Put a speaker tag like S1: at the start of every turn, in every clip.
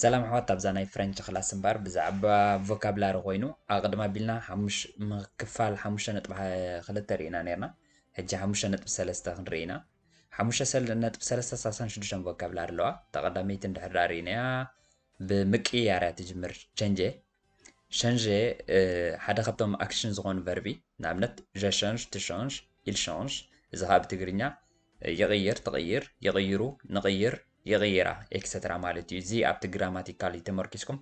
S1: ሰላም ኣሕዋት ኣብዛ ናይ ፍረንች ክላስ እምበር ብዛዕባ ቮካብላሪ ኮይኑ ኣቕድም ኣቢልና ክፋል ሓሙሽተ ነጥቢ ክልተ ርኢና ነርና ሕጂ ሓሙሽተ ነጥቢ ሰለስተ ክንርኢ ኢና ሓሙሽተ ነጥቢ ሰለስተ ሳሳን ሽዱሽተን ቮካብላሪ ኣለዋ ተቐዳመይቲ እንድሕር ርኢናያ ብምቅይያር እያ ትጅምር ቸንጀ፣ ሸንጀ፣ ሓደ ካብቶም ኣክሽን ዝኾኑ ቨርቢ፣ ንኣብነት ዠ ሸንዥ፣ ት ሸንዥ፣ ኢል ሸንዥ፣ እዚ ኸኣ ብትግርኛ ይቕይር፣ ትቕይር፣ ይቕይሩ፣ ንቕይር፣ ይቕይራ፣ ኤክሰትራ ማለት እዩ። እዚ ኣብቲ ግራማቲካሊ ተመርኲስኩም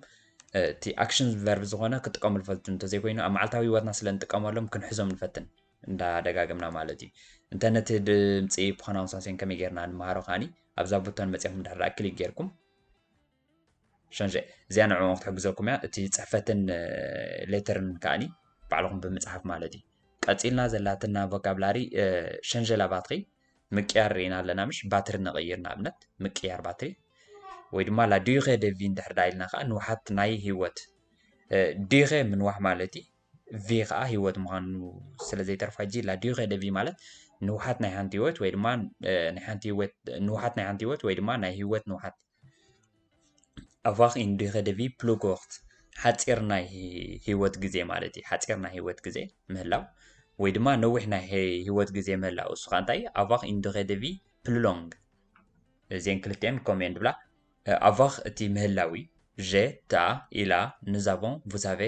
S1: እቲ ኣክሽን ቨርቢ ዝኾነ ክትጥቀምሉ ፈልጡ እንተዘይኮይኑ ኣብ መዓልታዊ ህይወትና ስለ እንጥቀመሎም ክንሕዞም ንፈትን እንዳደጋገምና ማለት እዩ። እንተ ነቲ ድምፂ ፕሮናውንሳሴን ከመይ ጌርና ንመሃሮ ከኣኒ ኣብዛ ቡቶን መፂኹም ድሕር ክሊክ ጌርኩም ሸንሸ እዚኣ ንዕኦም ክትሕግዘኩም እያ እቲ ፅሕፈትን ሌተርን ከዓኒ ባዕልኹም ብምፅሓፍ ማለት እዩ ቀፂልና ዘላትና ቮካብላሪ ሸንሸላ ባትሪ ምቅያር ርኢና ኣለና ምሽ ባትሪ ንቕይር ንኣብነት ምቅያር ባትሪ ወይ ድማ ላዲኸ ደቪ እንድሕር ዳ ኢልና ከዓ ንውሓት ናይ ህይወት ዲኸ ምንዋሕ ማለት እዩ ቪ ከኣ ህይወት ምዃኑ ስለ ዘይተርፋ ጂ ላ ዲዩሬ ደ ቪ ማለት ንውሓት ናይ ሓንቲ ህይወት ወይ ድማ ናይ ሓንቲ ህይወት ንውሓት ናይ ሓንቲ ህይወት ወይ ድማ ናይ ህይወት ንውሓት ኣቫኽ ኢን ዲዩሬ ደ ቪ ፕሉ ኮርት ሓጺር ናይ ህይወት ግዜ ማለት እዩ ሓጺር ናይ ህይወት ግዜ ምህላው ወይ ድማ ነዊሕ ናይ ህይወት ግዜ ምህላው እሱ ከኣ እንታይ ኣቫኽ ኢን ዲዩሬ ደ ቪ ፕሉ ሎንግ እዚን ክልቲኤን ኮሜን ድብላ ኣቫኽ እቲ ምህላዊ፣ ዠ፣ ትኣ፣ ኢላ፣ ኑዝ ኣቮን፣ ቭስ ኣቬ፣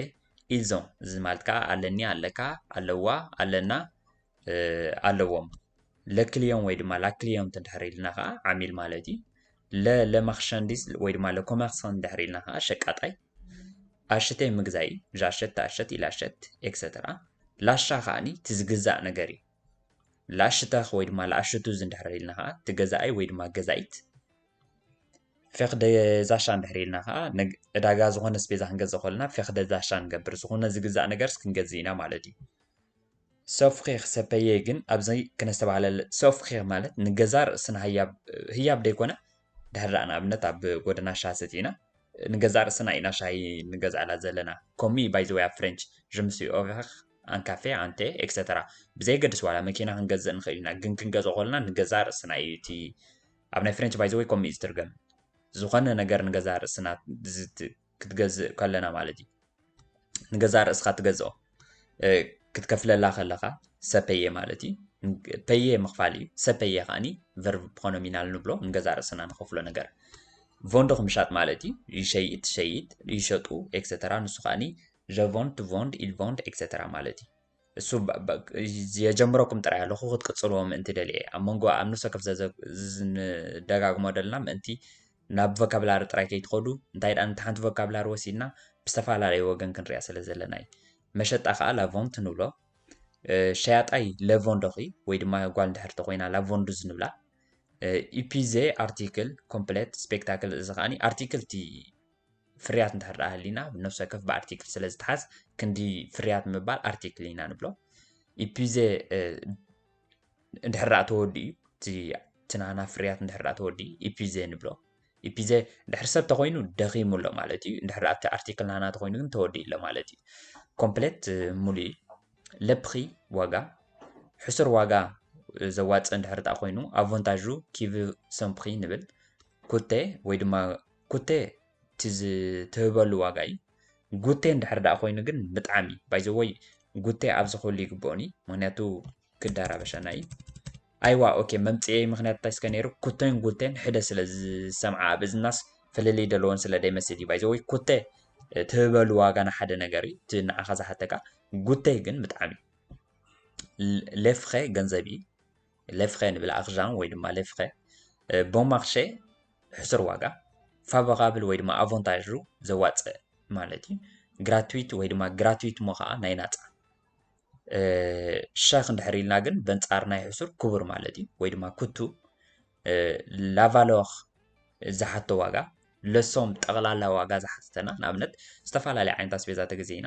S1: ኢልዝ ኦን፣ እዚ ማለት ከኣ ኣለኒ፣ ኣለካ፣ ኣለዋ፣ ኣለና፣ ኣለዎም። ለ ክልዮን ወይ ድማ ላ ክልዮንት እንድሕር ኢልና ከኣ ዓሚል ማለት እዩ። ለ ለ ማክሸንዲዝ ወይ ድማ ለ ኮመርሰንት እንድሕር ኢልና ከኣ ሸቃጣይ። ኣሽቴ ምግዛኢ፣ ዣሸት፣ ትኣሸት፣ ኢላሸት፣ ኤክሰተራ። ላሻ ከኣኒ እቲ ዝግዛእ ነገር እዩ። ለኣሽተኽ ወይ ድማ ለኣሽቱዝ እንድሕር ኢልና ከኣ እቲ ገዛኣይ ወይ ድማ ገዛኢት። ፌክደ ዛሻ እንድሕር ኢልና ከዓ ዕዳጋ ዝኾነ ስፔዛ ክንገዝእ ከለና ፌክደ ዛሻ ንገብር ዝኾነ ዝግዛእ ነገርስ ክንገዝእ ኢና ማለት እዩ። ሰፍኺኽ ሰፐየ ግን ኣብዚ ክነስተባህለለ ሰፍኺኽ ማለት ንገዛ ርእስና ህያብ ህያብ ደይኮነ ድሕር ደኣ ንኣብነት ኣብ ጎደና ሻሂ ሰቲና ንገዛ ርእስና ኢና ሻሂ ንገዝኣላ ዘለና ከምኡ እዩ ባይ ዘ ወይ ኣብ ፍሬንች ጅምሲ ኦቨኽ ኣንካፌ ኣንቴ ኤክሰተራ ብዘየገድስ ዋላ መኪና ክንገዝእ ንኽእል ኢና ግን ክንገዝኦ ከለና ንገዛ ርእስና እዩ እቲ ኣብ ናይ ፍሬንች ባይዘወይ ከምኡ እዩ ዝትርገም ዝኾነ ነገር ንገዛ ርእስና ክትገዝእ ከለና ማለት እዩ ንገዛ ርእስኻ ትገዝኦ ክትከፍለላ ከለኻ ሰፐየ ማለት እዩ ፐየ ምኽፋል እዩ ሰፐየ ከዓኒ ቨርብ ፖኖሚናል ንብሎ ንገዛ ርእስና ንኸፍሎ ነገር ቮንዶ ክምሻጥ ማለት እዩ ይሸይጥ ትሸይጥ ይሸጡ ኤክሰተራ ንሱ ከዓኒ ዠቮንድ ትቮንድ ኢልቮንድ ኤክሰተራ ማለት እዩ እሱ የጀምረኩም ጥራይ ኣለኹ ክትቅጽልዎ ምእንቲ ደልየ ኣብ መንጎ ኣብ ንፍሰ ከፍ ዝደጋግሞ ደልና ምእንቲ ናብ ቮካብላሪ ጥራይ ከይትኸዱ እንታይ ደኣ ነቲ ሓንቲ ቮካብላሪ ወሲድና ብዝተፈላለየ ወገን ክንሪኣ ስለ ዘለና እዩ መሸጣ ከዓ ላቮንት ንብሎ ሸያጣይ ለቮንዶኺ ወይ ድማ ጓል እንድሕር ተኮይና ላቮንዱዝ ንብላ ኢፒዜ ኣርቲክል ኮምፕሌት ስፔክታክል እዚ ከዓኒ ኣርቲክል እቲ ፍርያት እንድሕር ደኣ ሃልዩና ብ ነፍሲ ወከፍ ብ ኣርቲክል ስለ ዝትሓዝ ክንዲ ፍርያት ምባል ኣርቲክል ኢና ንብሎ። ኢፒዘ እንድሕር ደኣ ተወዲኡ እቲ እቲ ናህና ፍርያት እንድሕር ደኣ ተወዲኡ ኢፒዘ ንብሎ። ኢፒዘ እንድሕር ሰብ ተኾይኑ ደኺሙ ኣሎ ማለት እዩ። እንድሕር ደኣ እቲ ኣርቲክል ናህና ተኾይኑ ግን ተወዲኡ ኣሎ ማለት እዩ። ኮምፕሌት ሙሉእ እዩ። ለብኺ ዋጋ ሕሱር ዋጋ ዘዋጽእ እንድሕር ደኣ ኮይኑ ኣቮንታዡ ኪቭ ሰምፕኺ ንብል። ኩቴ ወይ ድማ ጉቴ እቲ ዝትህበሉ ዋጋ እዩ ጉቴ እንድሕር ደኣ ኮይኑ ግን ብጣዕሚ ባይ ዘ ወይ ጉቴ ኣብዚ ክህሉ ይግብኦን እዩ ምክንያቱ ግዳ ራበሻና እዩ ኣይዋ ኦኬ መምጽኤይ ምክንያት እንታይ ስከ ነይሩ ኩቴን ጉቴን ሕደ ስለ ዝሰምዓ ኣብ እዝናስ ፍልልይ ደለዎን ስለ ደይመስል እዩ ባይ ዘ ወይ ኩቴ ትህበሉ ዋጋ ንሓደ ነገር እዩ እቲ ንዓኻ ዝሓተካ ጉቴ ግን ብጣዕሚ ሌፍኸ ገንዘብ እዩ ሌፍኸ ንብል ኣክዣን ወይ ድማ ሌፍኸ ቦማክሸ ሕሱር ዋጋ፣ ፋቮራብል ወይ ድማ ኣቮንታዡ፣ ዘዋጽእ፣ ማለት እዩ። ግራትዊት ወይ ድማ ግራትዊት እሞ ከኣ ናይ ናጻ። ሸክ እንድሕር ኢልና ግን በንጻር ናይ ሕሱር ክቡር ማለት እዩ ወይ ድማ ኩቱ ላቫሎር ዝሓቶ ዋጋ ለሶም ጠቕላላ ዋጋ ዝሓተተና ንኣብነት ዝተፈላለዩ ዓይነት ኣስቤዛ ተገዚእና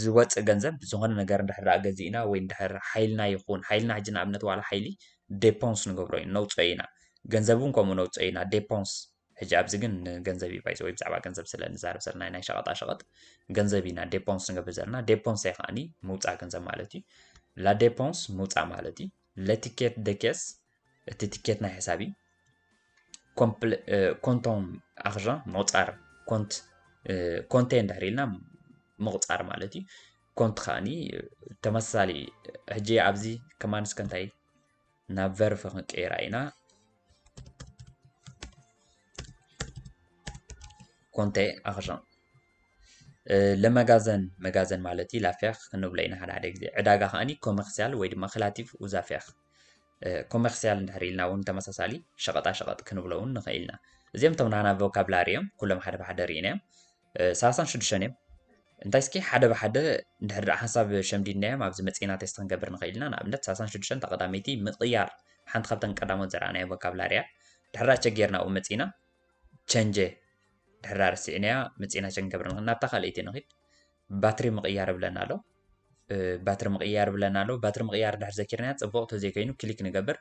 S1: ዝወፅእ ገንዘብ ዝኾነ ነገር እንድሕር ደኣ ገዚእና ወይ እንድሕር ሓይልና ይኹን ሓይልና ሕጂ ንኣብነት ዋላ ሓይሊ ዴፖንስ ንገብሮ ኢና ነውፅኦ ኢና ገንዘብ እውን ከምኡ ነውፅኦ ኢና ዴፖንስ ሕጂ ኣብዚ ግን ገንዘብ እዩ ባይዘ ወይ ብዛዕባ ገንዘብ ስለ ንዛረብ ዘለና ናይ ሸቐጣ ሸቐጥ ገንዘብ ኢና ዴፖንስ ንገብር ዘለና ዴፖንስ ከዓኒ ምውፃእ ገንዘብ ማለት እዩ ላዴፖንስ ምውፃእ ማለት እዩ ለቲኬት ደኬስ እቲ ትኬት ናይ ሕሳብ እዩ ኮንቶም ኣክዣ ምቁፃር ኮንት ኮንቴ እንድሕር ኢልና ምቁፃር ማለት እዩ ኮንት ከዓኒ ተመሳሳሊ ሕጂ ኣብዚ ከማን እስከ እንታይ ናብ ቨርፍ ክንቀይራ ኢና ኮንቴ ኣክዣ ለመጋዘን መጋዘን ማለት እዩ ላፊያክ ክንብሎ ኢና ሓደ ሓደ ግዜ ዕዳጋ ከዓኒ ኮመርሲያል ወይ ድማ ክላቲቭ ኡዛፊያክ ኮመርሲያል እንድሕር ኢልና እውን ተመሳሳሊ ሸቐጣ ሸቐጥ ክንብሎ እውን ንኽእል ኢና እዚኦም እቶም ናና ቮካብላሪ እዮም ኩሎም ሓደ ብሓደ ርኢና እዮም ሰላሳን ሽዱሽተን እዮም እንታይ እስኪ ሓደ ብሓደ እንድሕር ደኣ ሓንሳብ ሸምዲድና እዮም ኣብዚ መፅና ቴስት ክንገብር ንኽእል ኢና ንኣብነት ሰላሳን ሽዱሽተን ተቐዳመይቲ ምቕያር ሓንቲ ካብተን ቀዳሞት ዘረኣናዮ ቮካብላሪ እያ ድሕራ ቸጌርና ኣብኡ መፅና ቸንጀ ድሕራ ርሲዕናያ መፅና ቸንገብር ንኽእል ናብታ ካልኣይቲ ንኽድ ባትሪ ምቕያር ብለና ኣሎ ባትሪ ምቕያር ብለና ኣሎ ባትሪ ምቕያር ድሕር ዘኪርና ፅቡቕ ተዘይከይኑ ክሊክ ንገብር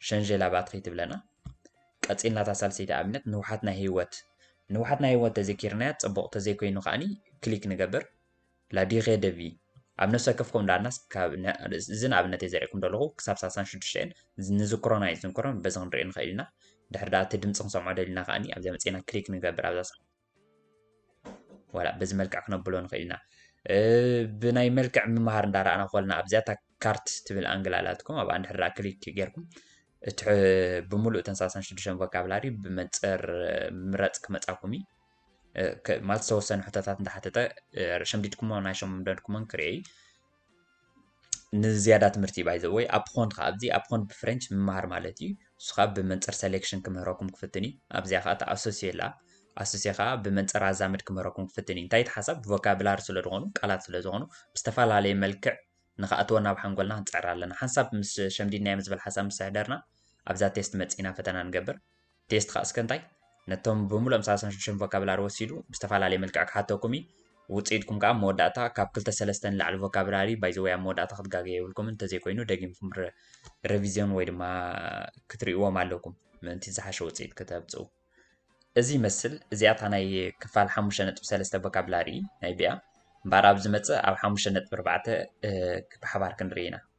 S1: ሸንጀላ ባትሪ ትብለና ቀፂልና እታ ሳልሰይቲ ኣብነት ንውሓት ናይ ህይወት ንውሓት ናይ ህይወት ተዘኪርናያ ፅቡቕ ተዘይኮይኑ ከዓኒ ክሊክ ንገብር ላዲኸ ደቪ ኣብ ነፍሲ ወከፍ ኮም ዳኣናስ እዚ ንኣብነት እየ ዘሪእኩም ዘለኹ ክሳብ ሳሳን ሽዱሽተን ንዝክሮን ኣይዝንክሮን በዚ ክንሪኦ ንኽእል ኢና ድሕር ዳኣ እቲ ድምፂ ክንሰምዖ ደሊና ከዓኒ ኣብዚኣ መፅና ክሊክ ንገብር ኣብዛ ዋላ በዚ መልክዕ ክነብሎ ንኽእል ኢና ብናይ መልክዕ ምምሃር እንዳረኣና ኮልና ኣብዚኣታ ካርት ትብል ኣንግል ኣላትኩም ኣብኣ እንድሕር ክሊክ ጌርኩም እቲ ብምሉእ ተንሳሳን ሽዱሽተን ቮካብላሪ ብመንፅር ምረፅ ክመፃኩም እዩ ማለት ዝተወሰኑ ሕቶታት እንዳሓተተ ሸምዲድኩሞ ናይ ሸምደድኩሞን ክርእይ ንዝያዳ ትምህርቲ ባይ ዘ ወይ ኣፕኾንድ ከዓ ኣብዚ ኣፕኾንድ ብፍሬንች ምምሃር ማለት እዩ እሱ ከዓ ብመንፅር ሰሌክሽን ክምህረኩም ክፍትን እዩ ኣብዚኣ ከዓ ተኣሶሲ የላ ኣሶሲ ከዓ ብመንፅር ኣዛምድ ክምህረኩም ክፍትን እዩ እንታይ ተሓሳብ ቮካብላሪ ስለ ዝኾኑ ቃላት ስለ ዝኾኑ ብዝተፈላለየ መልክዕ ንክኣትዎ ናብ ሓንጎልና ክንፅዕር ኣለና ሓንሳብ ምስ ሸምዲድናዮም ዝበል ሓሳብ ምስ ሕደርና ኣብዛ ቴስት መፂና ፈተና ንገብር ቴስትኻ እስከ እንታይ ነቶም ብምሉእ ኣምሳል ኣስራ ሽዱሽተ ቮካብላሪ ወሲዱ ብዝተፈላለየ መልክዕ ክሓተኩም እዩ ውፅኢትኩም ከዓ መወዳእታ ካብ ክልተ ሰለስተ ንላዕሊ ቮካብላሪ ባይዘወይ ኣብ መወዳእታ ክትጋገ የብልኩምን እንተዘይኮይኑ ደጊምኩም ረቪዝዮን ወይ ድማ ክትሪእዎም ኣለኩም ምእንቲ ዝሓሸ ውፅኢት ከተብፅኡ እዚ ይመስል እዚኣ እታ ናይ ክፋል ሓሙሽተ ነጥቢ ሰለስተ ቮካብላሪ ናይ ቢያ እምበኣር ኣብ ዝመፅእ ኣብ ሓሙሽተ ነጥቢ ኣርባዕተ ብሓባር ክንርኢ ኢና